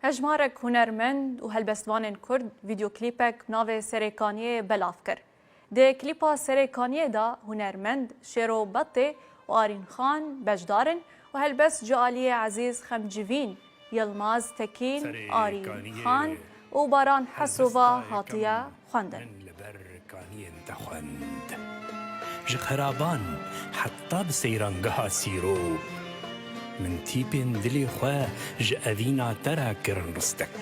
Hejmarek hunermend û helbestvanên Kurd vîdyoklîpek bi navê Serê Kaniyê belav kir. Di klîpa Serê Kaniyê de hunermend Şêro Betê û Arîn Xan beşdar in û helbestcî aliyê Ezîz Xemcivîn, Yilmaz Tekîn, Arîn Xan û Baran Hesova hatiye xwendin. Min li ber kaniyên te xwend. Ji xeraban heta bi seyrangeha sîro. Min tîpên dilê xwe ji evîna te re kirin ristek.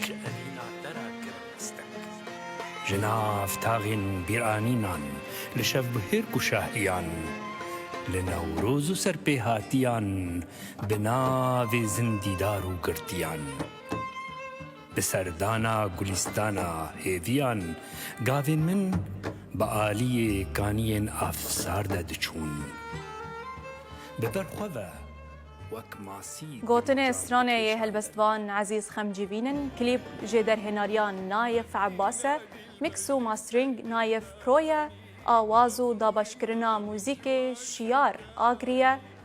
Ji nav taxên bîranînan li şevbihêrk û şahiyan, li newroz û serpêhatiyan bi navê zindîdar û girtiyan. Bi serdana gulîstana hêviyan gavên min bi aliyê kaniyên afsar de diçûn. Bi ber xwe ve wek masî Gotinê stranê yê helbestvan Ezîz Xemcî bînin, klîp jê derhênariya Naif Ebbas e, mîks û mastering Naif Pro ye, awaz û dabaşkirina muzîkê Şiyar Agri ye.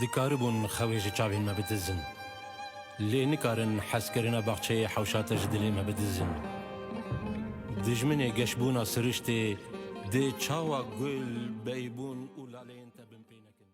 Dikaribûn xewê ji çavên me bidizin. Lê nikarin hezkirina baxçeyê hewşa te ji dilê me bidizin. Dijminê geşbûna siriştê dê çawa gul, beybûn û laleyên te bin pê nekin.